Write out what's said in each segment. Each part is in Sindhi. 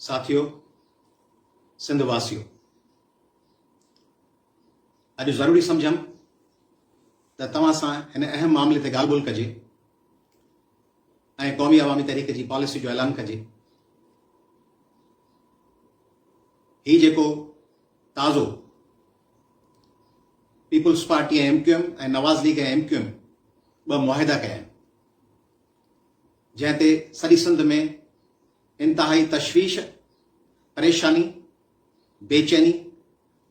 ساٿيو سنڌ واسيو اڄ ضروري سمجھم ته توهان سان هن اهم معاملي تي ڳالهه ٻولهه ڪجي ۽ قومي عوامي تحريڪ جي پاليسي جو اعلان ڪجي هي جيڪو تازو Peoples Party M Q M ۽ Nawaz League M Q M ٻه معاهدا ڪيا آهن جنهن تي سڄي سنڌ ۾ انتهائي تشويش، پريشاني، بيچيني،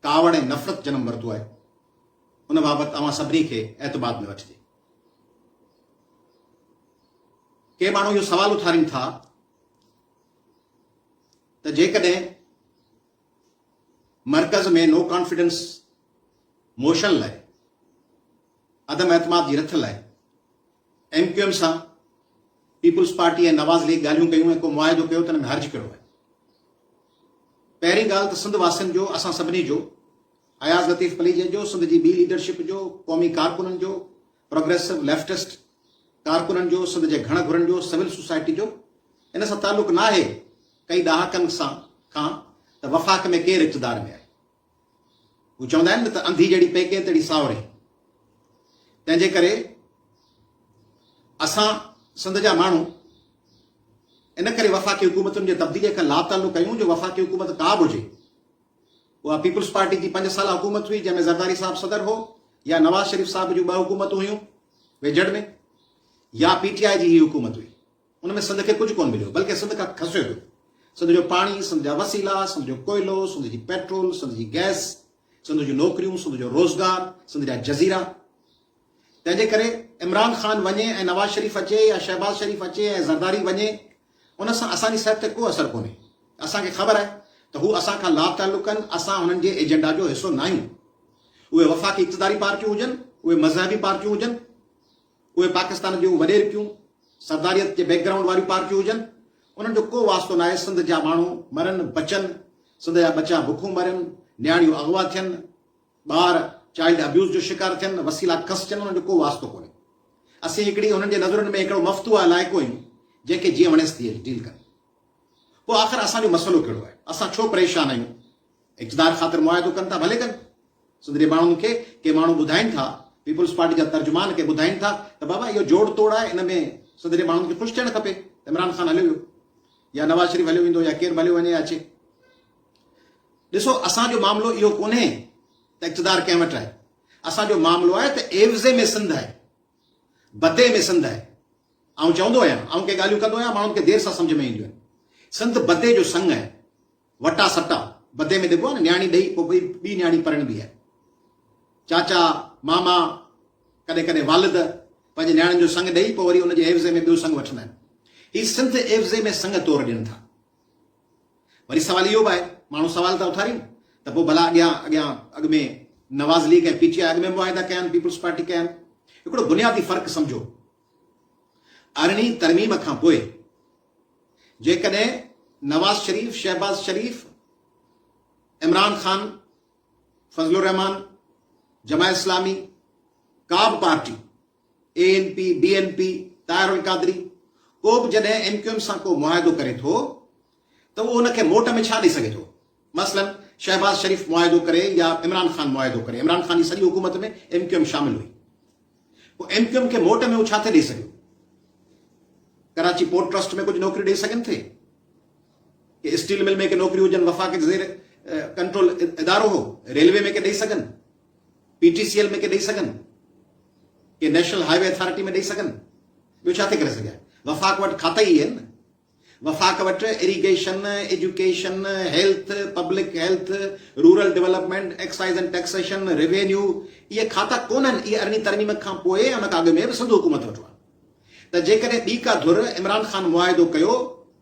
ڪاوڙ ۽ نفرت جنم ورتو آهي، ان بابت اوهان سڀني کي اعتماد ۾ وٺجي. ڪي ماڻهو اهو سوال اٿارين ٿا ته جيڪڏهن مرڪز ۾ نو ڪانفيڊنس موشن لاء، عدم اعتماد جي رٿ لاء، ايم ڪيو ايم سان پيپلز پارٽي ۽ نواز ليگ ڳالهيون ڪيون ۽ ڪو معاهدو ڪيو ته ان ۾ حرج ڪهڙو آهي؟ پهرين ڳالهه ته سنڌ واسين جو اسان سڀني جو اياز لطيف پليجي جو سنڌ جي ٻي ليڊرشپ جو قومي ڪارڪنن جو پروگريسو ليفٽسٽ ڪارڪنن جو سنڌ جي گهڻ گهرن جو سول سوسائٽي جو ان سان تعلق ناهي ڪئي ڏهاڪن سان کان ته وفاق ۾ ڪير اقتدار ۾ آهي هو چوندا آهن نه ته انڌي جهڙي پيڪي تهڙي ساهوري. تنهنجي ڪري اسان سنڌ جا ماڻهو ان ڪري وفاقي حڪومتن جي تبديلي کان لاتعلق آهيون جو وفاقي حڪومت ڪا به هجي اها پيپلز پارٽي جي پنج سالا حڪومت هئي جنهن ۾ زرداري صاحب صدر هو يا نواز شريف صاحب جون ٻه حڪومتون هيون ويجهڙ ۾ يا پي ٽي آء جي هي حڪومت هئي ان ۾ سنڌ کي ڪجهه ڪونه مليو، بلڪه سنڌ کان کسيو ويو. سنڌ جو پاڻي، سنڌ جا وسيلا، سنڌ جو ڪوئلو، سنڌ جي پيٽرول، سنڌ جي گئس، سنڌ جون نوڪريون، سنڌ جو روزگار، سنڌ جا جزيرا. تنهن جي ڪري عمران خان وڃي ۽ نواز شريف اچي يا شهباز شريف اچي ۽ زرداري وڃي، ان سان اسان جي صحت تي ڪو اثر ڪونهي. اسان کي خبر آهي ته هو اسان کان لاتعلق آهن، اسان هنن جي ايجنڊا جو حصو ناهيون. اهي وفاقي اقتداري پارٽيون هجن، اهي مذهبي پارٽيون هجن. اهي پاڪستان جون وڏيرڪيون سرداريت جي بيڪ گرائونڊ واريون پارٽيون هجن انهن جو ڪو واسطو ناهي سنڌ جا ماڻهو مرن بچن سنڌ جا ٻچا بکون مرن نياڻيون اغوا ٿين ٻار چائلڊ ابيوز جو شڪار ٿين وسيلا کسجن انهن جو ڪو واسطو ڪونهي اسين هڪڙي انهن جي نظرن ۾ هڪڙو مفتوح علائقو آهيون جنهن کي جيئن وڻيس تيئن ڊيل ڪن پوء آخر اسان جو مسئلو ڪهڙو آهي اسان ڇو پريشان آهيون اقتدار خاطر معاهدو ڪن ٿا ڀلي ڪن. سندري ماڻهن کي ڪي ماڻهو ٻڌائين ٿا، پيپلز پارٽي جا ترجمان ڪي ٻڌائين ٿا ته بابا اهو جوڙ توڙ آهي ان ۾ سندري ماڻهن کي خوش ٿيڻ کپي ته عمران خان هليو ويو يا نواز شريف هليو ويندو يا ڪير به هليو وڃي يا اچي. ڏسو اسان جو معاملو اهو ڪونهي ته اقتدار ڪنهن وٽ آهي اسان جو معاملو آهي ته عيوضي ۾ سنڌ آهي بدي ۾ سنڌ آهي آئون چوندو آهيان آئون ڪي ڳالهيون ڪندو آهيان ماڻهن کي دير سان سمجھ ۾ اينديون آهن سنڌ بدي جو سنگ آهي وٽا سٽا بدي ۾ ڏبو آهي نه نياڻي ڏئي پوء ٻئي ٻي نياڻي پرڻبي آهي چاچا ماما ڪڏهن ڪڏهن والد پنهنجي نياڻين جو سڱ ڏئي پوء وري ان جي عيوضي ۾ ٻيو سڱ وٺندا آهن هي سنڌ عيوضي ۾ سڱ طور ڏين ٿا وري سوال اهو به آهي ماڻهو سوال ٿا اٿارين ته پوء ڀلا اڳيان اڳيان اڳ ۾ Nawaz League ۽ P T I اڳ ۾ معاهدا ڪيا آهن پيپلز پارٽي ڪيا آهن هڪڙو بنيادي فرق سمجھو ارڙهين ترميم کان پوء جيڪڏهن نواز شريف، شهباز شريف، عمران خان، فضل الرحمان، جماعت اسلامي، ڪا به party, A N P, B N P, Tahir Qadri, ڪو به جڏهن ايم ڪيو ايم سان ڪو معاهدو ڪري ٿو ته اهو ان کي موٽ ۾ ڇا ڏئي سگهي ٿو؟ مثلاً شهباز شريف معاهدو ڪري يا عمران خان معاهدو ڪري، عمران خان جي سڄي حڪومت ۾ ايم ڪيو ايم شامل هئي، پوء ايم ڪيو ايم کي موٽ ۾ هو ڇا ٿي ڏئي سگهيو؟ ڪراچي پورٽ ٽرسٽ ۾ ڪجهه نوڪريون ڏئي سگهن ٿي؟ ڪي اسٽيل مل ۾ ڪي نوڪريون هجن، وفاق جي زير ڪنٽرول ادارو هو، ريلوي ۾ ڪي ڏئي سگهن، پي ٽي سي ايل ۾ ڪي ڏئي سگهن، ڪي نيشنل هاء وي اٿارٽي ۾ ڏئي سگهن، ٻيو ڇا ٿي ڪري سگهي؟ وفاق وٽ کاتا ئي اهي آهن نه. وفاق وٽ irrigation, education, health, public health, rural development, excise and taxation, revenue اهي کاتا ڪونهن اهي ارڙهين ترميم کان پوء ۽ ان کان اڳ ۾ به سنڌو حڪومت وٽ هئا ته جيڪڏهن ٻي ڪا ڌر عمران خان معاهدو ڪيو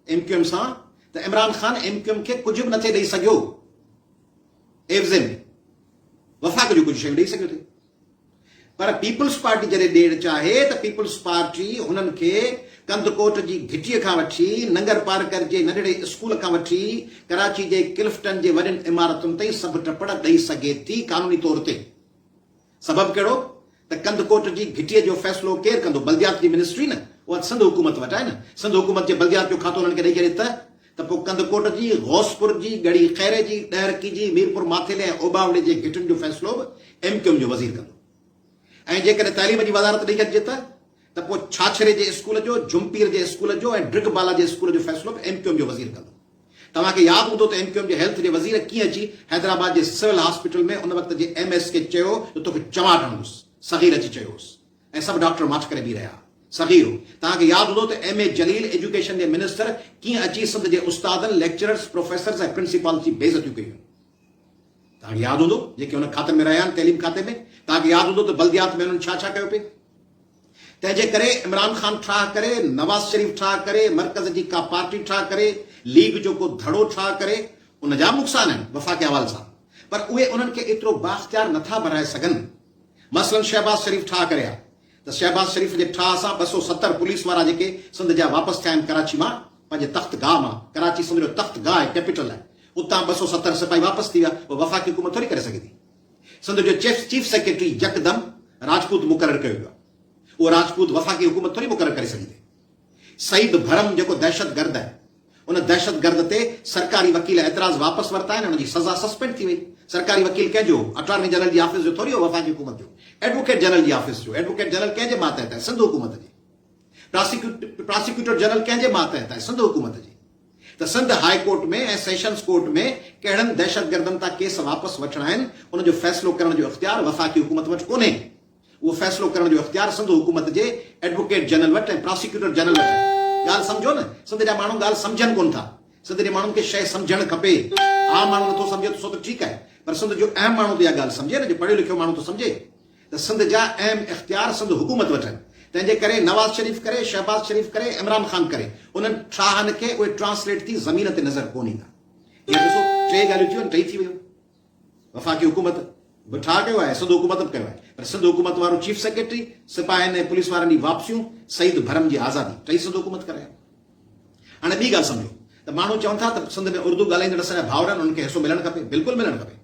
ايم ڪيو ايم سان ته Imran Khan M Q M کي ڪجهه به نٿي ڏئي سگهيو عيوض ۾ وفاق جون ڪجهه شيون ڏئي سگهيو ٿي. پر پيپلز پارٽي جڏهن ڏيڻ چاهي ته پيپلز پارٽي هنن کي ڪنڌڪوٽ جي گهٽيء کان وٺي ننگرپارڪر جي ننڍڙي اسڪول کان وٺي ڪراچي جي ڪلفٽن جي وڏين عمارتن تائين سڀ ٽپڙ ڏئي سگهي ٿي قانوني طور تي. سبب ڪهڙو ته ڪنڌڪوٽ جي گهٽيء جو فيصلو ڪير ڪندو؟ بلديات جي منسٽري نه! اها ته سنڌ حڪومت وٽ آهي نه! سنڌ حڪومت جي بلديات جو کاتو انهن کي ڏئي ڇڏي ته ته پوء ڪنڌڪوٽ جي، غوثپور جي، ڳڙهي خيري جي، ڏهرڪي جي، ميرپور ماٿيلي ۽ اوٻاوڙي جي گهٽن جو فيصلو به ايم ڪيو ايم جو وزير ڪندو ۽ جيڪڏهن تعليم جي وزارت ڏئي ڇڏجي ته ته پوء ڇاڇري جي اسڪول جو، جهمپير جي اسڪول جو ۽ ڊرگ بالا جي اسڪول جو فيصلو به ايم ڪيو ايم جو وزير ڪندو. توهان کي ياد هوندو ته ايم ڪيو ايم جي هيلٿ جي وزير ڪيئن اچي حيدرآباد جي سول هاسپيٽل ۾ ان وقت جي ايم ايس کي چيو جو توکي چماٽ هڻندس، صغير اچي چيو هوس. ۽ سڀ ڊاڪٽر ماٺ ڪري بيهي رهيا. صغيرو! توهان کي ياد هوندو ته ايم اي جليل ايجوڪيشن جي منسٽر ڪيئن اچي سنڌ جي استادن، ليڪچررز، پروفيسرز ۽ پرنسپالز جي بي عزتيون ڪيون هيون. توهان کي ياد هوندو جيڪي هن کاتن ۾ رهيا آهن تعليم کاتي ۾ توهان کي ياد هوندو ته بلديات ۾ هنن ڇا ڇا ڪيو پئي. تنهن جي ڪري عمران خان ٺاهه ڪري، نواز شريف ٺاهه ڪري، مرڪز جي ڪا پارٽي ٺاهه ڪري، ليگ جو ڪو ڌڙو ٺاهه ڪري، ان جا به نقصان آهن وفاقي حوالي سان پر اهي انهن کي ايترو بااختيار نٿا بنائي سگهن. مثلاً شهباز شريف ٺاهه ڪري ها ته شهباز شريف جي ٺاهه سان ٻه سؤ ستر پوليس وارا جيڪي سنڌ جا واپس ٿيا آهن ڪراچي مان پنهنجي تخت گاهه مان، ڪراچي سنڌ جو تخت گاهه آهي، ڪيپيٽل آهي، اتان ٻه سؤ ستر سپاهي واپس ٿي ويا اهو وفاقي حڪومت ٿوري ڪري سگهي ٿي. سنڌ جو چيف سيڪريٽري يڪدم راجپوت مقرر ڪيو ويو آهي اهو راجپوت وفاقي حڪومت ٿوري مقرر ڪري سگهي ٿي. سعيد ڀرم جيڪو دهشتگرد آهي ان دهشتگرد تي سرڪاري وڪيل اعتراض واپس ورتا آهن ان جي سزا سسپينڊ ٿي وئي سرڪاري وڪيل ڪنهن جو هو اٽارني جنرل جي آفيس جو ٿوري هو وفاقي حڪومت جو ايڊووڪيٽ جنرل جي آفيس جو ايڊووڪيٽ جنرل ڪنهن جي ماتحت آهي سنڌ حڪومت جي پراسيڪيوٽر جنرل ڪنهن جي ماتحت آهي سنڌ حڪومت جي ته Sindh high court ۾ ۽ sessions court ۾ ڪهڙن دهشتگردن تان ڪيس واپس وٺڻا آهن ان جو فيصلو ڪرڻ جو اختيار وفاقي حڪومت وٽ ڪونهي اهو فيصلو ڪرڻ جو اختيار سنڌ حڪومت جي ايڊووڪيٽ جنرل وٽ ۽ پراسيڪيوٽر جنرل وٽ آهي. ڳالهه سمجهو نه. سنڌ جا ماڻهو ڳالهه سمجهن ڪونه ٿا. سنڌ جي ماڻهن کي شيء سمجهڻ کپي. عام ماڻهو نٿو سمجهي ته سو ته ٺيڪ آهي. پر سنڌ جو اهم ماڻهو ته اها ڳالهه سمجهي نه. جو پڙهيو لکيو ماڻهو ٿو سمجهي ته سنڌ جا اهم اختيار سنڌ حڪومت وٽ آهن. تنهن جي ڪري نواز شريف ڪري، شهباز شريف ڪري، عمران خان ڪري انهن ٺاهن کي اهي ٽرانسليٽ ٿي زمين تي نظر ڪونه ايندا. هينئر ڏسو ٽي ڳالهيون ٿيون آهن. ٽئي ٿي ويون. وفاقي حڪومت به ٺاهه ڪيو آهي، سنڌ حڪومت به ڪيو آهي پر سنڌ حڪومت وارو چيف سيڪريٽري، سپاهين ۽ پوليس وارن جي واپسيون، سعيد ڀرم جي آزادي ٽئي سنڌ حڪومت ڪري آهي. هاڻي ٻي ڳالهه سمجهو ته ماڻهو چون ٿا ته سنڌ ۾ اردو ڳالهائيندڙ اسان جا ڀائر آهن انهن کي حصو ملڻ کپي، بلڪل ملڻ کپي.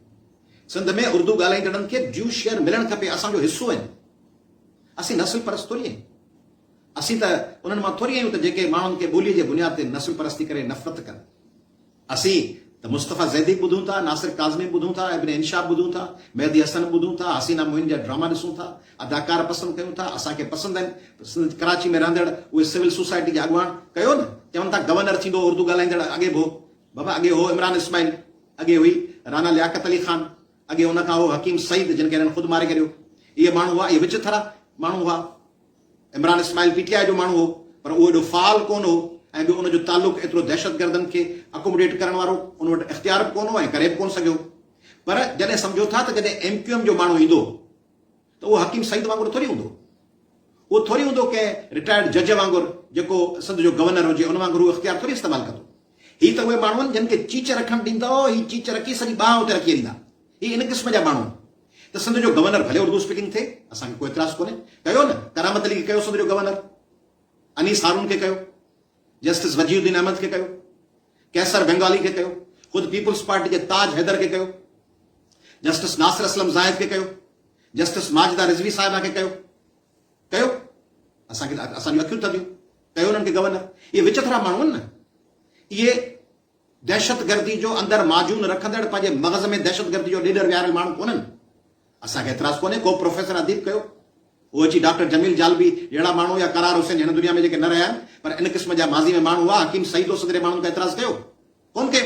سنڌ ۾ اردو ڳالهائيندڙن کي ڊيو شيئر ملڻ کپي، اسان جو حصو آهن. اسين نسل پرست ٿوري آهيون. اسين ته انهن مان ٿوري آهيون ته جيڪي ماڻهن کي ٻولي جي بنياد تي نسل پرستي ڪري نفرت ڪن. اسين ته مصطفيٰ زيدي ٻڌون ٿا، ناصر ڪاظمي ٻڌون ٿا، ابن انشا ٻڌون ٿا، مهدي حسن ٻڌون ٿا، حسينا معين جا ڊراما ڏسون ٿا، اداڪار پسند ڪيون ٿا، اسان کي پسند آهن، سنڌ ڪراچي ۾ رهندڙ اهي سول سوسائٽي جا اڳواڻ ڪيو نه چون ٿا گورنر ٿيندو اردو ڳالهائيندڙ اڳي به هو بابا اڳي هو عمران اسماعيل اڳي هئي رانا لياقت علي خان اڳي ان کان هو حڪيم سعيد جن کي هنن خود ماري ڪريو اهي ماڻهو هئا اهي وچ ٿرا ماڻهو هئا. Imran Ismail P T I جو ماڻهو هو پر اهو ايڏو فعال ڪونه هو ۽ ٻيو ان جو تعلق ايترو دهشتگردن کي اڪوموڊيٽ ڪرڻ وارو ان وٽ اختيار به ڪونه هو ۽ ڪري به ڪونه سگهيو پر جڏهن سمجهو ٿا ته جڏهن ايم ڪيو ايم جو ماڻهو ايندو ته اهو حڪيم سعيد وانگر ٿوري هوندو اهو ٿوري هوندو ڪنهن رٽائرڊ جج وانگر جيڪو سنڌ جو گورنر هجي ان وانگر هو اختيار ٿوري استعمال ڪندو هي ته اهي ماڻهو آهن جن کي چيچ رکڻ ڏيندؤ هي چيچ رکي سڄي ٻانهه اتي رکي ڏيندا هي ان قسم جا ماڻهو آهن ته سنڌ جو گورنر ڀلي اردو اسپيڪنگ ٿئي اسان کي ڪو اعتراض ڪونهي ڪيو نه ڪرامت علي کي ڪيو سنڌ جو گورنر انيس هارون کي ڪيو جسٽس وجي الدين احمد کي ڪيو قيصر بنگالي کي ڪيو خود پيپلز پارٽي جي تاج حيدر کي ڪيو جسٽس ناصر اسلم زاهد کي ڪيو جسٽس ماجده رضوي صاحبه کي ڪيو ڪيو اسان کي اسان جون اکيون ٿڌيون ڪيو انهن کي گورنر اهي وچٿرا ماڻهو آهن نه اهي دهشتگردي جو اندر معجون رکندڙ پنهنجي مغز ۾ دهشتگردي جو ڏيڏر ويهاريل ماڻهو ڪونهن اسان کي اعتراض ڪونهي ڪو به پروفيسر اديب ڪيو هو اچي ڊاڪٽر جميل جالبي جهڙا ماڻهو يا قرار حسين هن دنيا ۾ جيڪي نه رهيا آهن پر ان قسم جا ماضي ۾ ماڻهو هئا حڪيم سعيد هو سگري ماڻهن ڪو اعتراض ڪيو ڪون ڪيو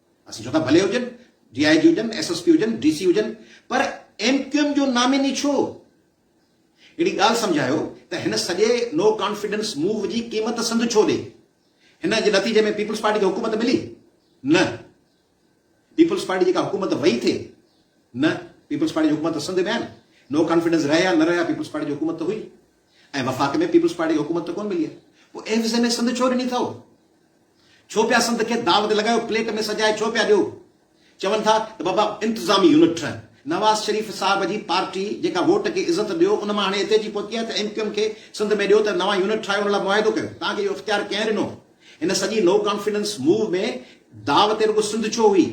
اسين چون ٿا ڀلي هجن، ڊي آء جي هجن، ايس ايس پي هجن، ڊي سي هجن پر ايم ڪيو ايم جو نامي ني ڇو؟ هڪڙي ڳالهه سمجهايو ته هن سڄي نو ڪانفيڊنس موو جي قيمت سنڌ ڇو ڏي؟ هن جي نتيجي ۾ پيپلز پارٽي کي حڪومت ملي؟ نه. پيپلز پارٽي جي ڪا حڪومت وئي ٿي؟ نه. پيپلز پارٽي جي حڪومت سنڌ ۾ آهي نه. نو ڪانفيڊنس رهي يا نه رهي ها پيپلز پارٽي جي حڪومت ته هئي. ۽ وفاق ۾ پيپلز پارٽي کي حڪومت ته ڪونه ملي آهي پوء ايف زي ۾ سنڌ ڇو ڏني اٿئو؟ ڇو پيا سنڌ کي داو تي لڳايو پليٽ ۾ سجائي ڇو پيا ڏيو؟ چون ٿا ته بابا انتظامي يونٽ ٺهه نواز شريف صاحب جي پارٽي جيڪا ووٽ کي عزت ڏيو ان مان هاڻي هتي اچي پهتي آهي ته ايم ڪيو ايم کي سنڌ ۾ ڏيو ته نوان يونٽ ٺاهيو ان لاء معاهدو ڪيو توهان کي اهو اختيار ڪنهن ڏنو؟ هن سڄي نو ڪانفيڊنس موو ۾ داو تي رڳو سنڌ ڇو هئي؟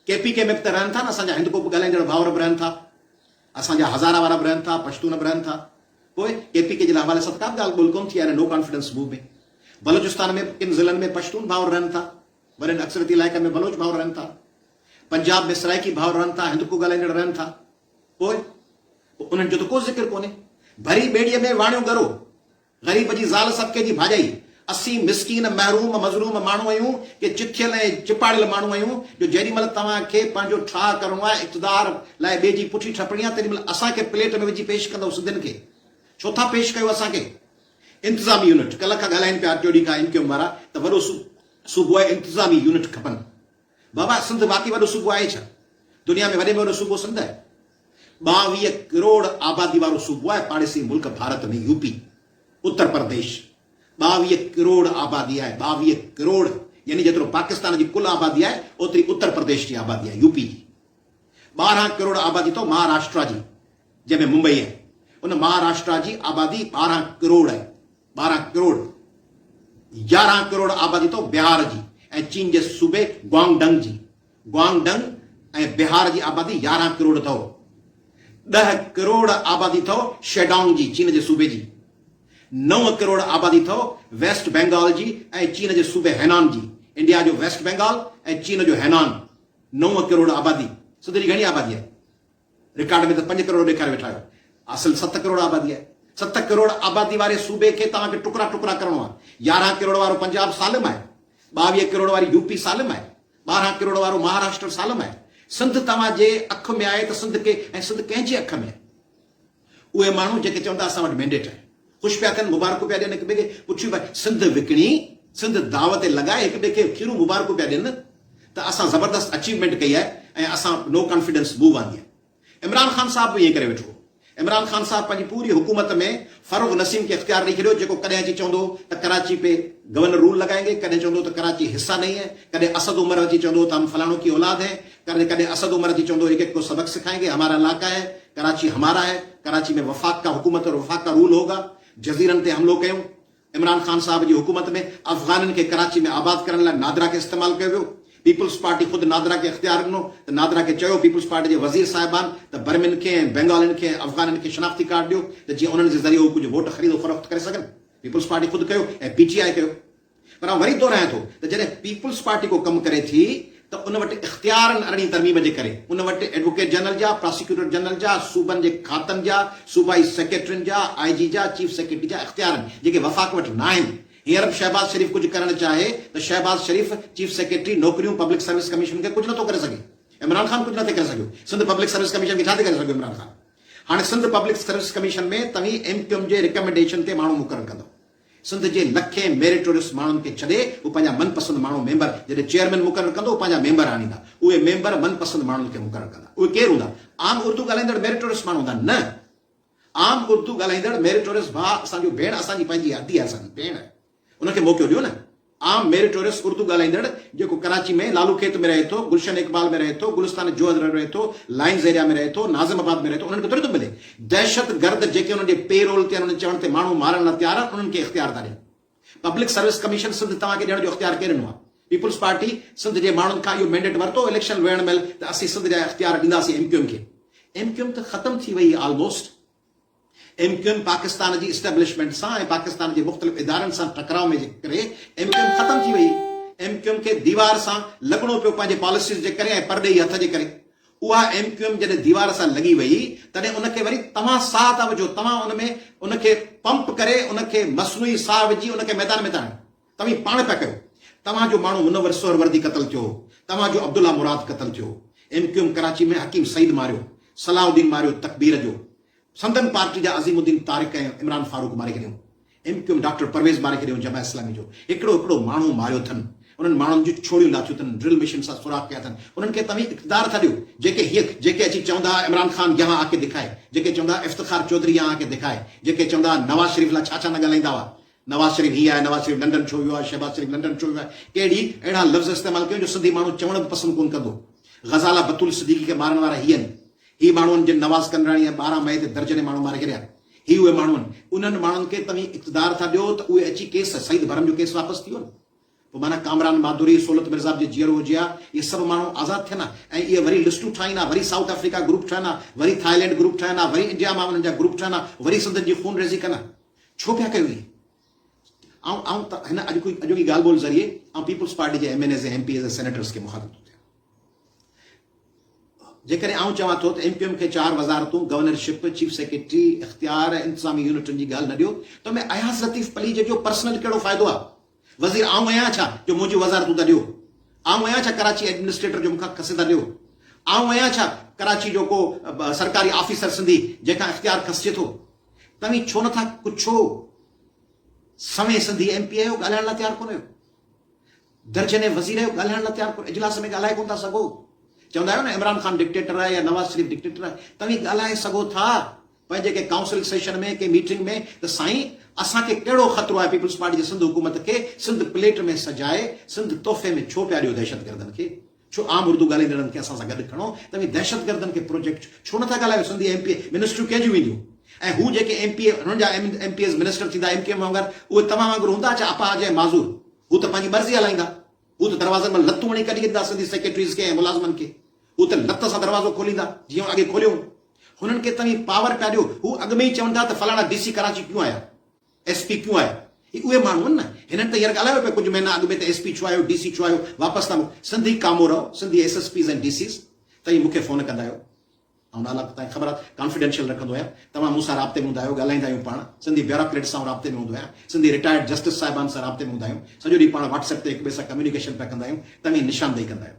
ڪي پي ڪي ۾ به ته رهن ٿا نه اسان جا هندڪو به ڳالهائيندڙ ڀائور به رهن ٿا اسان جا هزاره وارا به رهن ٿا پشتون به رهن ٿا پوء ڪي پي ڪي جي لا حوالي سان ته ڪا به ڳالهه ٻولهه ڪونه ٿي آهي نه نو ڪانفيڊنس موو ۾ بلوچستان ۾ به ڪن ضلعن ۾ پشتون ڀائور رهن ٿا ورين اڪثريتي علائقن ۾ بلوچ ڀائور رهن ٿا پنجاب ۾ سرائيڪي ڀائور رهن ٿا هندڪو ڳالهائيندڙ رهن ٿا پوء پوء انهن جو ته ڪو ذڪر ڪونهي ڀري ٻيڙيء ۾ واڻيو ڳرو. غريب جي زال صدقي جي ڀاڄائي. اسين مسڪين، محروم، مظلوم ماڻهو آهيون ڪي چٿيل ۽ چپاڙيل ماڻهو آهيون جو جيڏي مهل توهان کي پنهنجو ٺاهه ڪرڻو آهي اقتدار لاء ٻئي جي پٺي ٺپڻي آهي تيڏي مهل اسان کي پليٽ ۾ وجهي پيش ڪندؤ سنڌين کي ڇو ٿا پيش ڪيو اسان کي. انتظامي يونٽ ڪلهه کان ڳالهائين پيا ٽيوڙي کان ايم ڪيو ايم وارا ته وڏو صوبو آهي انتظامي يونٽ کپن. بابا سنڌ واقعي وڏو صوبو آهي ڇا؟ دنيا ۾ وڏي ۾ وڏو صوبو سنڌ آهي. ٻاويهه ڪروڙ آبادي وارو صوبو آهي پاڙيسري ملڪ ڀارت ۾ يو پي، اتر پرديش ٻاويهه ڪروڙ آبادي آهي ٻاويهه ڪروڙ يعني جيترو پاڪستان جي ڪل آبادي آهي اوتري اتر پرديش جي آبادي آهي يو پي جي ٻارهن ڪروڙ آبادي اٿو مهاراشٽرا جي جنهن ۾ ممبئي آهي ان مهاراشٽرا جي آبادي ٻارهن ڪروڙ آهي ٻارهن ڪروڙ يارهن ڪروڙ آبادي تو بهار جي ۽ چين جي صوبي گوانگ ڊنگ جي گوانگ ڊنگ ۽ بهار جي آبادي يارهن ڪروڙ اٿئو ڏهه ڪروڙ آبادي اٿئو شيڊانگ جي چين جي صوبي جي نو ڪروڙ آبادي اٿئو ويسٽ بينگال جي ۽ چين جي صوبي هينان جي انڊيا جو ويسٽ بينگال ۽ چين جو هينان نو ڪروڙ آبادي سڌري گهڻي آبادي آهي رڪارڊ ۾ ته پنج ڪروڙ ڏيکاري ويٺا آهيو. اصل ست ڪروڙ آبادي آهي. ست ڪروڙ آبادي واري صوبي کي توهان کي ٽڪرا ٽڪرا ڪرڻو آهي. يارهن ڪروڙ وارو پنجاب سالم آهي. ٻاويهه ڪروڙ واري يو پي سالم آهي. ٻارهن ڪروڙ وارو مهاراشٽر سالم آهي. سنڌ توهان جي اک ۾ آهي ته سنڌ ڪي ۽ سنڌ ڪنهن جي اک ۾ آهي؟ اهي ماڻهو جيڪي چون ٿا اسان وٽ مينڊيٽ آهي، خوش پيا ٿين، مبارڪون پيا ڏين هڪ ٻئي کي، پڇيو ڀاء سنڌ وڪڻي، سنڌ داو تي لڳائي هڪ ٻئي کي کيرون مبارڪون پيا ڏين ته اسان زبردست اچيومينٽ ڪئي آهي ۽ اسان نو ڪانفيڊنس موو آندي آهي. عمران خان صاحب به ائين ڪري ويٺو هو. عمران خان صاحب پنهنجي پوري حڪومت ۾ فرغ نسيم کي اختيار ڏئي ڇڏيو جيڪو ڪڏهن اچي چوندو هو ته ڪراچي پي گورنر رول لگائينگي، ڪڏهن چوندو هو ته ڪراچي حصه نهين هي، ڪڏهن اسد عمر اچي چوندو هو ته هم فلاڻو ڪي اولاد هين، ڪڏھن ڪڏھن اسد عمر جي چوندو ايڪ ايڪ ڪو سبق سکائينگي ھمارا علاقا ھي ڪراچي ھمارا ھي ڪراچي ۾ وفاق ڪا حڪومت اور وفاق ڪا رول ھوگا جزيرن تي حملو ڪيون عمران خان صاحب جي حڪومت ۾ افغانن کي ڪراچي ۾ آباد ڪرڻ لاء نادرا کي استعمال ڪيو ويو پيپلز پارٽي خود نادرا کي اختيار ڏنو ته نادرا کي چيو پيپلز پارٽي جي وزير صاحبان ته برمين کي ۽ بينگالين کي ۽ افغانن کي شناختي ڪارڊ ڏيو ته جيئن انھن جي ذريعي ھو ڪجھ ووٽ خريد و فروخت ڪري سگھن پيپلز پارٽي خود ڪيو ۽ پي ٽي آء ڪيو پر آئون وري دهرايان ٿو ته جڏهن پيپلز پارٽي ڪو ڪم ڪري ٿي ته ان وٽ اختيارن ارڙهين ترميم جي ڪري ان وٽ ايڊووڪيٽ جنرل جا، پراسيڪيوٽر جنرل جا، صوبن جي کاتن جا، صوبائي سيڪريٽرين جا، آء جي جا، چيف سيڪريٽري جا اختيار آهن جيڪي وفاق وٽ ناهن. هينئر به شهباز شريف ڪجهه ڪرڻ چاهي ته شهباز شريف چيف سيڪريٽري، نوڪريون، پبلڪ سروس ڪميشن کي ڪجهه نٿو ڪري سگهي. عمران خان ڪجهه نٿي ڪري سگهيو. سنڌ پبلڪ سروس ڪميشن کي ڇا ٿي ڪري سگهيو عمران خان. هاڻي سنڌ پبلڪ سروس ڪميشن ۾ توهين ايم ڪيو ايم جي رڪمينڊيشن تي ماڻهو مقرر ڪندو. سنڌ جي لکين ميريٽوريس ماڻهن کي ڇڏي هو پنهنجا من پسند ماڻهو ميمبر جڏهن چيئرمين مقرر ڪندو پنهنجا ميمبر آڻيندا اهي ميمبر من پسند ماڻهن کي مقرر ڪندا اهي ڪير هوندا عام اردو ڳالهائيندڙ ميريٽوريس ماڻهو هوندا نه عام اردو ڳالهائيندڙ ميريٽوريس ڀاء اسان جو ڀيڻ اسان جي پنهنجي هدي آهي اسان جي ڀيڻ ان کي موقعو ڏيو نه عام ميري ٽوريس اردو ڳالهائيندڙ جيڪو ڪراچي ۾ لالو کيت ۾ رهي ٿو، گلشن اقبال ۾ رهي ٿو، گلستان جوهر ۾ رهي ٿو، لائنز ايريا ۾ رهي ٿو، ناظم آباد ۾ رهي ٿو انهن کي ٿوري ٿو ملي. دهشت گرد جيڪي انهن جي پي رول تي آهن انهن جي چوڻ تي ماڻهو مارڻ لا تيار آهن انهن کي اختيار ٿا ڏين. پبلڪ سروس ڪميشن سنڌ توهان کي ڏيڻ جو اختيار ڪنهن ڏنو آهي؟ پيپلز پارٽي سنڌ جي ماڻهن کان اهو مينڊيٽ ورتو هو اليڪشن ويهڻ مهل ته اسين سنڌ جا اختيار ڏينداسين ايم ڪيو ايم کي. ايم ڪيو ايم ته ختم ٿي وئي هئي almost. M Q M Pakistan جي اسٽيبلشمينٽ سان ۽ پاڪستان جي مختلف ادارن سان ٽڪراء ۾ جي ڪري ايم ڪيو ايم ختم ٿي وئي. ايم ڪيو ايم کي ديوار سان لڳڻو پيو پنهنجي پاليسيز جي ڪري ۽ پرڏيهي هٿ جي ڪري. اها ايم ڪيو ايم جڏهن ديوار سان لڳي وئي تڏهن ان کي وري توهان ساهه ٿا وجهو، توهان ان ۾ ان کي پمپ ڪري ان کي مصنوعي ساهه وجهي ان کي ميدان ۾ ٿا آڻيو. توهين پاڻ پيا ڪيو، توهان جو ماڻهو منور سهروردي قتل ٿيو هو، توهان جو عبدالله مراد قتل ٿيو هو، M Q M Karachi ۾ Hakim Said ماريو، صلاح الدين ماريو تڪبير جو، سندن پارٽي جا عظيم الدين طارق ۽ عمران فاروق ماري ڇڏيائون، M Q M doctor Pervez ماري ڇڏيو جماعت اسلامي جو هڪڙو هڪڙو ماڻهو ماريو اٿن، انهن ماڻهن جون ڇوڙيون لاٿيون اٿن، ڊرل مشين سان سوراخ ڪيا اٿن، انهن کي توهين اقتدار ٿا ڏيو، جيڪي هيء جيڪي اچي چوندا ها عمران خان يهان آڪي دکائي، جيڪي چوندا ها افتخار چوڌري يهان آڪي دکائي، جيڪي چوندا ها نواز شريف لاء ڇا ڇا نه ڳالهائيندا هئا، نواز شريف هي آهي، نواز شريف لنڊن ڇو ويو آهي، شهباز شريف لنڊن ڇو ويو آهي، ڪهڙي اهڙا لفظ استعمال ڪيو جو سنڌي ماڻهو چوڻ به پسند ڪونه ڪندو. غزاله بتول صديقي کي مارڻ وارا هي آهن. هي ماڻهو آهن جن نواز ڪنراڻي ۽ ٻارهن مئي تي درجنين ماڻهو ماري ڇڏيا. هي اهي ماڻهو آهن. انهن ماڻهن کي توهين اقتدار ٿا ڏيو ته اهي اچي ڪيس سعيد برهم جو ڪيس واپس ٿي ويو نه. پوء معنيٰ ڪامران، ماڌوري، سولت مرزا به جي جيئرو هجي ها، اهي سڀ ماڻهو آزاد ٿين ها ۽ اهي وري لسٽون ٺاهين ها، وري سائوٿ آفريڪا گروپ ٺهن ها، وري ٿائلينڊ گروپ ٺهن ها، وري انڊيا مان انهن جا گروپ ٺهن ها، وري سنڌين جي خون ريزي ڪن ها. ڇو پيا ڪيو ائين؟ آئون آئون ته هن اڄوڪي اڄوڪي ڳالهه ٻولهه ذريعي آئون پيپلز پارٽي جي M N As ۽ M P As ۽ senators کي مخاطب ٿو ٿيان. جيڪڏهن آئون چوان ٿو ته ايم ڪيو ايم کي چار وزارتون، گورنر شپ، چيف سيڪريٽري، اختيار ۽ انتظامي يونٽن جي ڳالهه نه ڏيو ته ۾ اياز لطيف پليجي جو پرسنل ڪهڙو فائدو آ؟ وزير آئون اهي آهيان ڇا جو منهنجيون وزارتون ٿا ڏيو؟ آئون اهي آهيان ڇا ڪراچي ايڊمنسٽريٽر جو مون کان کسي ٿا ڏيو؟ آئون اهي آهيان ڇا ڪراچي جو ڪو سرڪاري آفيسر سنڌي جنهن کان اختيار کسجي ٿو؟ توهين ڇو نٿا ڪڇو؟ سوين سنڌي ايم پي آهيو ڳالهائڻ لاء تيار ڪونه آهيو؟ درجنين وزير آهيو ڳالهائڻ لاء تيار ڪونه اجلاس ۾ ڳالهائي ڪونه ٿا سگهو؟ چوندا آهيو نه عمران خان ڊڪٽيٽر آهي يا نواز شريف ڊڪٽيٽر آهي توهين ڳالهائي سگهو ٿا پنهنجي ڪنهن ڪائونسل سيشن ۾ ڪنهن ميٽنگ ۾ ته سائين اسان کي ڪهڙو خطرو آهي پيپلز پارٽي جي سنڌ حڪومت کي سنڌ پليٽ ۾ سجائي سنڌ تحفي ۾ ڇو پيا ڏيو دهشتگردن کي ڇو عام اردو ڳالهائيندڙن کي اسان سان گڏ کڻو توهين دهشتگردن کي پروجيڪٽ ڇو نٿا ڳالهايو سنڌي ايم پي اي منسٽريون ڪنهن جون وينديون ۽ هو جيڪي ايم پي اي هنن جا ايم پي ايز منسٽر ٿيندا ايم ڪيو ايم وانگر اهي توهان وانگر هوندا ڇا اپاهج ۽ معذور هو ته پنهنجي مرضي هلائيندا هو ته دروازن مان لتون هڻي ڪڍي ڏيندا سنڌي سيڪريٽريز کي ۽ ملازمن کي هو ته لت سان دروازو کوليندا جيئن اڳي کوليو هنن کي توهين پاور پيا ڏيو، هو اڳ ۾ ئي چون ٿا ته فلاڻا ڊي سي ڪراچي ڪيون آيا، ايس پي ڪيون آيا، هي اهي ماڻهو آهن نه، هنن ته هينئر ڳالهايو پيا ڪجهه مهينا اڳ ۾ ته ايس پي ڇو آيو، ڊي سي ڇو آيو، واپس ٿا موڪليو، سنڌي ڪامو رهو، Sindhi S S Ps ۽ D Cs توهين مون کي فون ڪندا آهيو، آئون نالا توهان کي خبر آهي ڪانفيڊينشل رکندو آهيان، توهان مون سان رابطي ۾ هوندا آهيو، ڳالهائيندا آهيون پاڻ، سنڌي بيوراڪريٽس سان آئون رابطي ۾ هوندو آهيان، سنڌي رٽائرڊ جسٽس صاحبان سان رابطي ۾ هوندا آهيون، سڄو ڏينهن پاڻ واٽس ايپ تي هڪ ٻئي سان ڪميونيڪيشن پيا ڪندا آهيون، توهين نشاندهي ڪندا آهيو.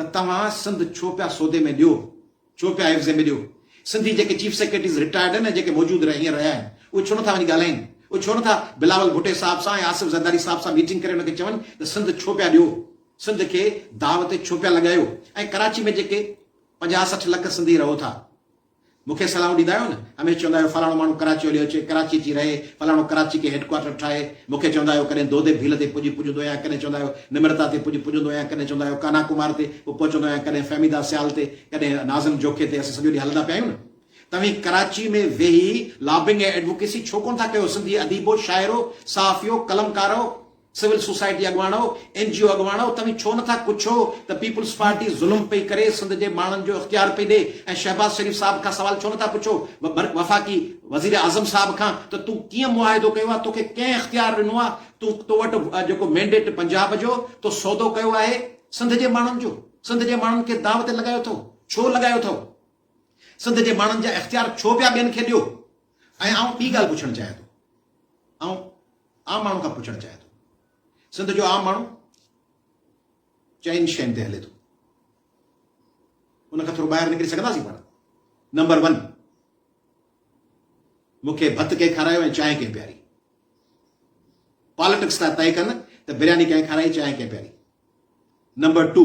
ته توهان سنڌ ڇو پيا سودي ۾ ڏيو، ڇو پيا عيوضي ۾ ڏيو، سنڌي جيڪي چيف سيڪريٽريز رٽائرڊ آهن ۽ جيڪي موجود رهيا هينئر رهيا آهن اهي ڇو نٿا وڃي ڳالهائين، اهي ڇو نٿا بلاول ڀٽي صاحب سان ۽ آصف زرداري صاحب سان ميٽنگ ڪري انهن کي چون ته سنڌ ڇو پيا ڏيو، سنڌ کي داء تي ڇو پيا لڳايو ۽ ڪراچي ۾ جيڪي پنجاهه سٺ لک سنڌي رهو ٿا، مون کي صلاحون ڏيندا آهيو نه، هميشه چوندا آهيو فلاڻو ماڻهو ڪراچي هليو اچي، ڪراچي اچي رهي، فلاڻو ڪراچي کي هيڊ ڪوارٽر ٺاهي، مون کي چوندا آهيو ڪڏهن دودي ڀيل تي پڄ پڄندو آهيان، ڪڏهن چوندا آهيو نمرتا تي پڄ پڄندو آهيان، ڪڏهن چوندا آهيو ڪانها ڪمار تي به پهچندو آهيان، ڪڏهن فهميده سيال تي، ڪڏهن ناظم جوکي تي، اسين سڄو ڏينهن هلندا پيا آهيون نه. توهين ڪراچي ۾ ويهي لابنگ ۽ ايڊووڪيسي ڇو ڪونه ٿا ڪيو، سنڌي اديبو، شاعرو، صحافيو، قلمڪارو! سول سوسائٽي اڳواڻو، اين جي او اڳواڻو توهين ڇو نٿا ڪڇو ته پيپلز پارٽي ظلم پئي ڪري سنڌ جي ماڻهن جو اختيار پئي ڏي ۽ شهباز شريف صاحب کان سوال ڇو نٿا پڇو وفاقي وزير اعظم صاحب کان ته تون ڪيئن معاهدو ڪيو آهي توکي ڪنهن اختيار ڏنو آهي تون تو وٽ جيڪو مينڊيٽ پنجاب جو تو سودو ڪيو آهي سنڌ جي ماڻهن جو سنڌ جي ماڻهن کي داو تي لڳايو اٿو ڇو لڳايو اٿو سنڌ جي ماڻهن جا اختيار ڇو پيا ٻين کي ڏيو. ۽ آئون ٻي ڳالهه پڇڻ چاهيان ٿو، آئون عام ماڻهو کان پڇڻ چاهيان ٿو، سنڌ جو عام ماڻهو چئن شين تي هلي ٿو، ان کان ٿورو ٻاهر نڪري سگهنداسين پاڻ؟ نمبر ون، مون کي ڀت ڪنهن کارايو ۽ چانهه ڪنهن پياري؟ پاليٽڪس ٿا طئي ڪن ته برياني ڪنهن کارائي چانهه ڪنهن پياري؟ نمبر ٽو،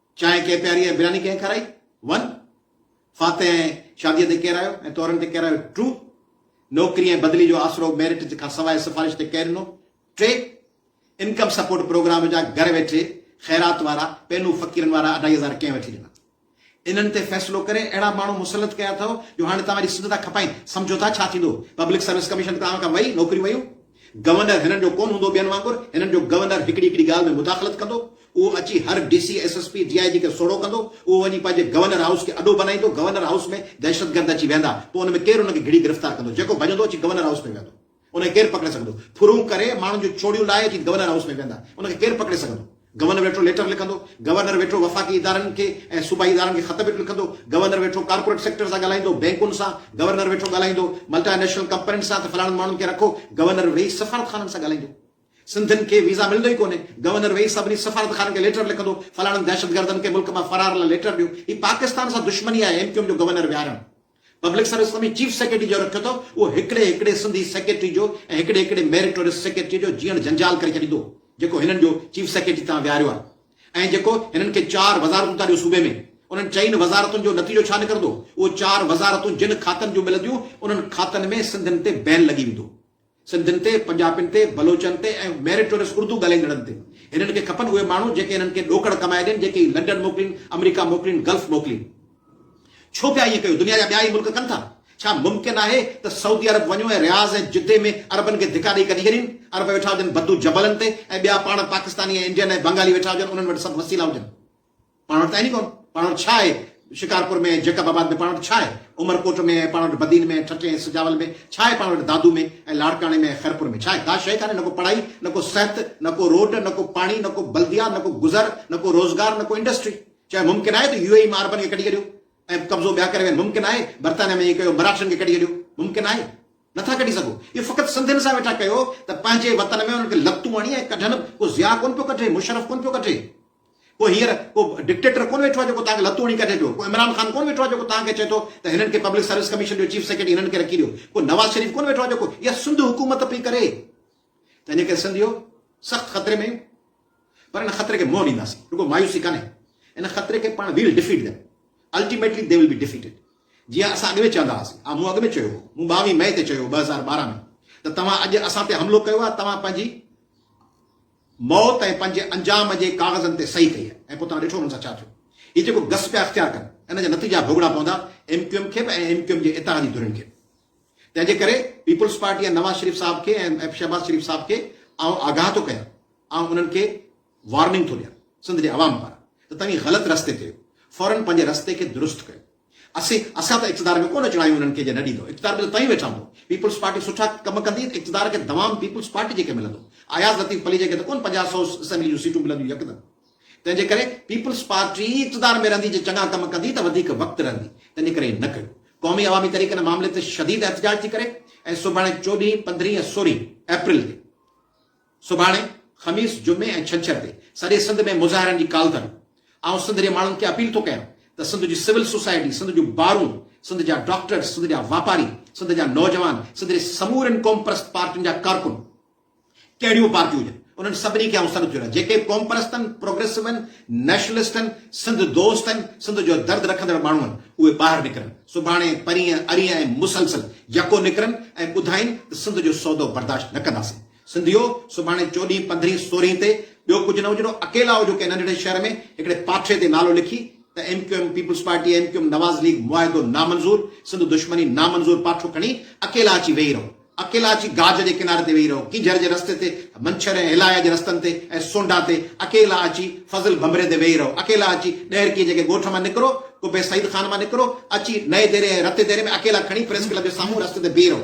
چانهه ڪنهن پياري ۽ برياني ڪنهن کارائي؟ ون. فاتح ۽ شاديء تي ڪير آيو ۽ تورن تي ڪير آيو؟ ٽرو. نوڪري ۽ بدلي جو آسرو ميرٽ کان سواء سفارش تي ڪير ڏنو؟ ٽي. انڪم سپورٽ پروگرام جا گهر ويٺي خيرات وارا، پينون فقيرن وارا اڍائي هزار ڪنهن وٺي ڏنا؟ انهن تي فيصلو ڪري اهڙا ماڻهو مسلط ڪيا اٿئو جو هاڻي توهان جي سنڌ ٿا کپائين، سمجهو ٿا ڇا ٿيندو؟ پبلڪ سروس ڪميشن توهان کان وئي، نوڪريون ويون. گورنر هنن جو ڪونه هوندو، ٻين وانگر هنن جو گورنر هڪڙي هڪڙي ڳالهه ۾ مداخلت ڪندو، اهو اچي هر D C, S S P, D I G کي سوڙهو ڪندو، اهو وڃي پنهنجي گورنر هائوس کي اڏو بنائيندو، گورنر هائوس ۾ دهشتگرد اچي ويهندا، پوء ان ۾ ڪير ان کي گهڙي گرفتار ڪندو، جيڪو ڀڄندو اچي گورنر هائوس ۾ ويهندو، ان کي ڪير پڪڙي سگهندو، ڦرون ڪري ماڻهن جون ڇوڙيون لاهي اچي گورنر هائوس ۾ ويهندا، ان کي ڪير پڪڙي سگهندو. گورنر ويٺو ليٽر لکندو، گورنر ويٺو وفاقي ادارن کي ۽ صوبائي ادارن کي خط به لکندو، گورنر ويٺو ڪارپوريٽ سيڪٽر سان ڳالهائيندو، بئنڪن سان، گورنر ويٺو ڳالهائيندو ملٽا نيشنل ڪمپنين سان ته فلاڻن ماڻهن کي رکو، گورنر ويهي سفارت خانن سان ڳالهائيندو. سنڌين کي ويزا ملندو ئي ڪونهي، گورنر ويهي سڀني سفارت خانن کي ليٽر لکندو، فلاڻن دهشتگردن کي ملڪ مان فرار لاء ليٽر ڏيو، هي پاڪستان سان دشمني آهي ايم ڪيو ايم جو گورنر ويهارڻ. Public service commission chief secretary جو رکيو اٿو، اهو هڪڙي هڪڙي سنڌي سيڪريٽري جو ۽ هڪڙي هڪڙي ميريٽوريس سيڪريٽري جو جيئڻ جنجال ڪري ڇڏيندو، جيڪو هنن جو چيف سيڪريٽري تان ويهاريو آهي ۽ جيڪو هنن کي چار وزارتون ٿا ڏيو صوبي ۾، انهن چئن وزارتن جو نتيجو ڇا نڪرندو، اهو چار وزارتون جن کاتن جون ملنديون، انهن کاتن ۾ سنڌين تي بين لڳي ويندو. سنڌين تي، پنجابين تي، بلوچن تي ۽ ميريٽوريس اردو ڳالهائيندڙن تي. هنن کي کپن اهي ماڻهو جيڪي هنن کي ڏوڪڙ ڪمائي ڏين، جيڪي هي لنڊن موڪلين، آمريڪا موڪلين، گلف موڪلين. ڇو پيا ائين ڪيو؟ دنيا جا ٻيا ئي ملڪ ڪن ٿا. ڇا ممڪن آهي ته سعودي عرب وڃو ۽ رياض ۽ جدي ۾ عربن کي ڌڪا ڏئي ڪڍي ڇڏين؟ عرب ويٺا هجن بدو جبلن تي ۽ ٻيا پاڻ پاڪستاني ۽ انڊين ۽ بنگالي ويٺا هجن انهن وٽ سڀ وسيلا هجن. پاڻ وٽ آهن ئي ڪونه، پاڻ وٽ ڇا آهي؟ شڪارپور ۾ جيڪب آباد ۾ پاڻ وٽ ڇا آهي؟ عمر ڪوٽ ۾ ۽ پاڻ وٽ بدين ۾ ٺٽي ۽ سجاول ۾ ڇا آهي؟ پاڻ وٽ دادو ۾ ۽ لاڙڪاڻي ۾ ۽ خيرپور ۾ ڇا آهي؟ ڪا شيء ڪانهي، نه ڪو پڙهائي، نه ڪو صحت، نه ڪو روڊ، نه ڪو پاڻي، نه ڪو بلديا، نه ڪو گذر، نه ڪو روزگار، نه ڪو انڊسٽري. چيو ممڪن آهي ته يو اي اي مان عربن کي ڪڍي ڪڍيو ۽ قبضو ٻيا ڪري وين، ممڪن آهي برطانيا ۾ ائين ڪيو مراٺن کي ڪڍي ڪڍيو، ممڪن آهي؟ نه ٿا ڪڍي سگهو. اهو فقط سنڌين سان ويٺا ڪيو ته پنهنجي وطن ۾ انهن کي لتون هڻي ۽ ڪڍن، ڪو ضياء ڪونه پيو ڪڍي، مشرف ڪونه پيو ڪڍي، ڪو هينئر ڪو ڊڪٽيٽر ڪونه ويٺو آهي جيڪو توهان کي لتون هڻي ڪڍي پيو، ڪو عمران خان ڪونه ويٺو آهي جيڪو توهان کي چئي ٿو ته هنن کي پبلڪ سروس ڪميشن جو چيف سيڪريٽري هنن کي رکي ڏيو، ڪو نواز شريف ڪونه ويٺو آهي جيڪو اها سنڌ حڪومت پئي ڪري تنهنجي ڪري سنڌ اهو سخت خطري ۾ آهيون پر ان خطري کي منهن ڏينداسين رڳو مايوسي ڪانهي ان خطري کي پاڻ we'll defeat them ultimately they will be defeated جيئن اسان اڳ ۾ چوندا هئاسين ها مون اڳ ۾ چيو هو مون ٻاويهه مئي تي چيو هو ٻه هزار ٻارهن ۾ ته توهان اڄ اسان تي حملو ڪيو آهي توهان پنهنجي موت ۽ پنهنجي انجام جي ڪاغذن تي صحيح ڪئي ۽ پوء توهان ڏٺو انهن سان ڇا ٿيو. هي جيڪو گس پيا اختيار ڪن ان جا نتيجا ڀوڳڻا پوندا ايم ڪيو ايم کي به ۽ ايم ڪيو ايم جي اتحادي ڌرين کي به. تنهن جي ڪري پيپلز پارٽي ۽ نواز شريف صاحب کي ۽ ايف شهباز شريف صاحب کي آئون آگاهه ٿو ڪيان، آئون انهن کي وارننگ ٿو ڏيان سنڌ جي عوام پاران ته توهين غلط رستي تي آهيو، فورن پنهنجي رستي کي درست ڪيو. اسين اسان ته اقتدار ۾ ڪونه اچڻ آيون انهن کي جي نه ڏيندو اقتدار ۾ ته توهين ويٺا هوندو پيپلز پارٽي سٺا ڪم ڪندي ته اقتدار کي دوام پيپلز پارٽي جي کي ملندو اياز لطيف پليجي کي ته ڪونه پنجاهه سئو اسيمبلي جون سيٽون ملنديون يڪدم تنهن جي ڪري پيپلز پارٽي ئي اقتدار ۾ رهندي جي چڱا ڪم ڪندي ته وڌيڪ وقت رهندي تنهن جي ڪري نه ڪيو قومي عوامي تحريڪ ان معاملي تي شديد احتجاج ٿي ڪري ۽ سڀاڻي چوڏهين پندرهين ۽ سورهين اپريل تي سڀاڻي، خميس، جمعي ۽ ڇنڇر تي سڄي سنڌ ۾ مظاهرن جي ڪال اٿن. آئون سنڌ جي ماڻهن کي اپيل ٿو ڪيان ته سنڌ جي سول سوسائٽي، سنڌ جون بارون، سنڌ جا ڊاڪٽرز، سنڌ جا واپاري، سنڌ جا نوجوان، سنڌ جي سمورين قومپرست پارٽين جا ڪارڪن، ڪهڙيون پارٽيون هجن، انهن سڀني کي آئون سڏ ٿو ڏيان، جيڪي قومپرستن، پروگريسوين، نيشنلسٽن، سنڌ دوستن، سنڌ جو درد رکندڙ ماڻهو آهن، اهي ٻاهر نڪرن، سڀاڻي، پرينء، ارينء ۽ مسلسل يڪو نڪرن ۽ ٻڌائين ته سنڌ جو سودو برداشت نه ڪنداسين. سنڌيو! سڀاڻي چوڏهين، پندرهين، سورهين تي ٻيو ڪجهه نه هجڻو، اڪيلا هجو ڪنهن ننڍڙي شهر ۾ هڪڙي پاٺي تي نالو لکي ته M Q M, Peoples Party, M Q M, Nawaz League, معاهدو نامنظور، سنڌ دشمني نامنظور پاٺو کڻي اڪيلا اچي ويهي رهو. اڪيلا اچي گاج جي ڪناري تي ويهي رهو، ڪينجهر جي رستي تي، منڇر ۽ هلايا جي رستن تي ۽ سونڍا تي، اڪيلا اچي فضل ڀنڀري تي ويهي رهو، اڪيلا اچي ڏهرڪي جي ڪنهن ڳوٺ مان نڪرو، قبي سعيد خان مان نڪرو، اچي نئين ديري ۽ رتي ديري ۾ اڪيلا کڻي پريس ڪلب جي سامهون رستي تي بيهي رهو.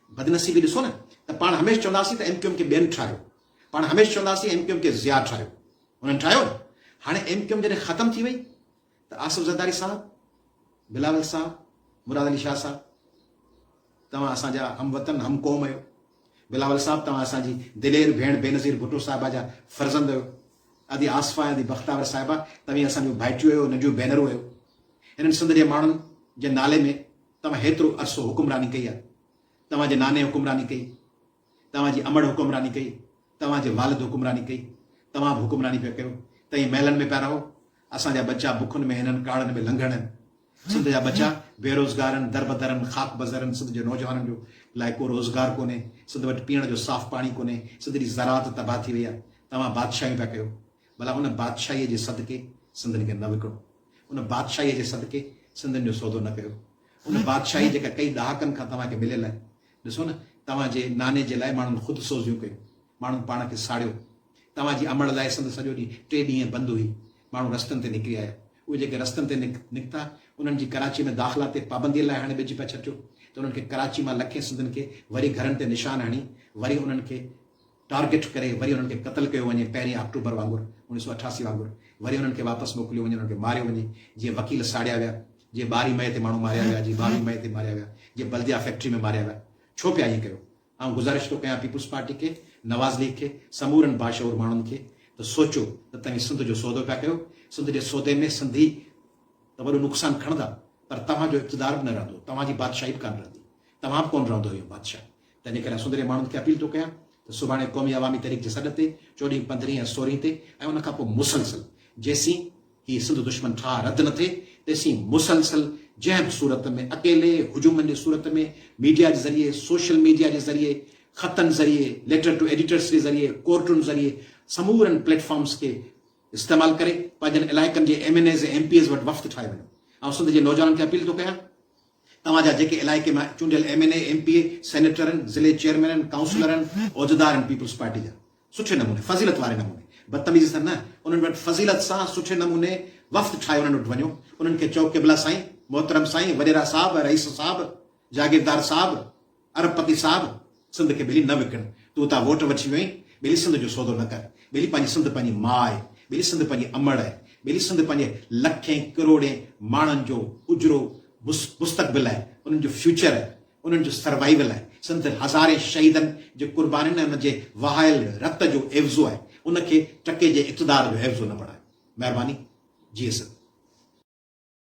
بدنصيبي ڏسو نه ته پاڻ هميشھ چونداسين ته ايم ڪيو ايم کي ٻين ٺاهيو، پاڻ هميشھ چونداسين ايم ڪيو ايم کي ضياء ٺاهيو، انهن ٺاهيو نه، هاڻي ايم ڪيو ايم جڏهن ختم ٿي وئي ته آصف زرداري صاحب، بلاول صاحب، مراد علي شاهه صاحب توهان اسان جا هم وطن هم قوم اهيو، بلاول صاحب توهان اسان جي دلير ڀيڻ بينظير ڀٽو صاحبه جا فرزند اهيو، ادي آصفه ۽ ادي بختاور صاحبه توهين اسان جون ڀائٽيون اهيو ننڍيون ڀينرون اهيو، هنن سنڌ جي ماڻهن جي نالي ۾ توهان هيترو عرصو حڪمراني ڪئي آهي. توهان جي ناني حڪمراني ڪئي. توهان جي امڙ حڪمراني ڪئي. توهان جي والد حڪمراني ڪئي. توهان به حڪمراني پيا ڪيو. توهين محلن ۾ پيا رهو. اسان جا ٻچا بکن ۾ هنن ڪاڙهن ۾ لنگهڙ هن. سنڌ جا ٻچا بيروزگار هن، دربدر هن، خاڪ بزر هن. سنڌ جي نوجوانن جو لاء ڪو روزگار ڪونهي. سنڌ وٽ پيئڻ جو صاف پاڻي ڪونهي. سنڌ جي زراعت تباهه ٿي وئي آهي. توهان بادشاهيون پيا ڪيو. ڀلا ان بادشاهيء جي صدقي سندن کي نه وڪڻو؟ ان بادشاهيء جي صدقي سندن جو سودو نه ڪيو؟ ان بادشاهي جيڪا ڪئي ڏهاڪن کان توهان کي مليل آهي. ڏسو نه، توهان جي ناني جي لاء ماڻهن خود سوزيون ڪيون. ماڻهن پاڻ کي ساڙيو. توهان جي امڙ لاء سنڌ سڄو ڏينهن ٽي ڏينهن بند هئي. ماڻهو رستن تي نڪري آيا. اهي جيڪي رستن تي نڪتا، انهن جي ڪراچيء ۾ داخلا تي پابنديء لاء هڻي ٻج پيا ڇٽيو، ته انهن کي ڪراچيء مان لکين سنڌين کي وري گهرن تي نشان هڻي، وري انهن کي، ٽارگيٽ ڪري وري انهن کي قتل ڪيو وڃي پهرين آڪٽوبر وانگر اڻيهه سؤ اٺاسي وانگر وري انهن کي واپس موڪليو وڃي انهن کي ماريو وڃي جيئن وڪيل ساڙيا ويا جيئن ٻارهين مئي تي ماڻهو ماريا ويا جيئن ٻاويهه مئي تي ماريا ويا جيئن بلديا فيڪٽري ۾ ماريا ويا ڇو پيا ائين ڪيو آئون گذارش ٿو ڪيان پيپلز پارٽي کي نواز ليگ کي سمورن باشعور ماڻهن کي ته سوچو ته توهين سنڌ جو سودو پيا ڪيو سنڌ جي سودي ۾ سنڌي ته وڏو نقصان کڻندا پر توهان جو اقتدار به نه رهندو توهان جي بادشاهي به ڪانه رهندي توهان به ڪونه رهندو اهو بادشاهه تنهنجي ڪري آء سڌري ماڻهن کي اپيل ٿو ڪيان ته سڀاڻي قومي عوامي تحريڪ جي سڏ تي چوڏهين، پندرهين ۽ سورهين تي ۽ ان کان پوء مسلسل جيسين هي سنڌ دشمن ٺاهه رد نه ٿئي تيسين مسلسل جنهن به صورت ۾ اڪيلي، هجومن جي صورت ۾، ميڊيا جي ذريعي، سوشل ميڊيا جي ذريعي، خطن ذريعي، ليٽر ٽو ايڊيٽرس جي ذريعي، ڪورٽن ذريعي سمورن پليٽ فارمز کي استعمال ڪري پنهنجن علائقن جي M N As ۽ M P As وٽ وفد ٺاهي وڃو. آئون سنڌ جي نوجوانن کي اپيل ٿو ڪيان توهان جا جيڪي علائقي مان چونڊيل M N A, M P A, سينيٽرن، ضلعي چيئرمينن، ڪائونسلرن، عهديدارن پيپلز پارٽي جا سٺي نموني، فضيلت واري نموني، بدتميزي سان نه، انهن وٽ فضيلت سان سٺي نموني وفد ٺاهي انهن وٽ وڃو، انهن کي چئو قبلا سائين، محترم سائين، وڏيرا صاحب، رئيس صاحب، جاگيردار صاحب، ارب پتي صاحب سنڌ کي ٻيلي نه وڪڻ تون اتان ووٽ وٺي ويو آهين ٻيلي سنڌ جو سودو نه ڪر ٻيلي پنهنجي سنڌ پنهنجي ماء آهي ٻيلي سنڌ پنهنجي امڙ آهي ٻيلي سنڌ پنهنجي لکين ڪروڙين ماڻهن جو اجرو مستقبل آهي انهن جو فيوچر آهي انهن جو سروائيول آهي سنڌ هزارين شهيدن جي قربانين ۽ انهن جي وهايل رت جو عيوضو آهي ان کي ٽڪي جي اقتدار جو عيوضو نه بڻايو مهرباني جيئي سنڌ.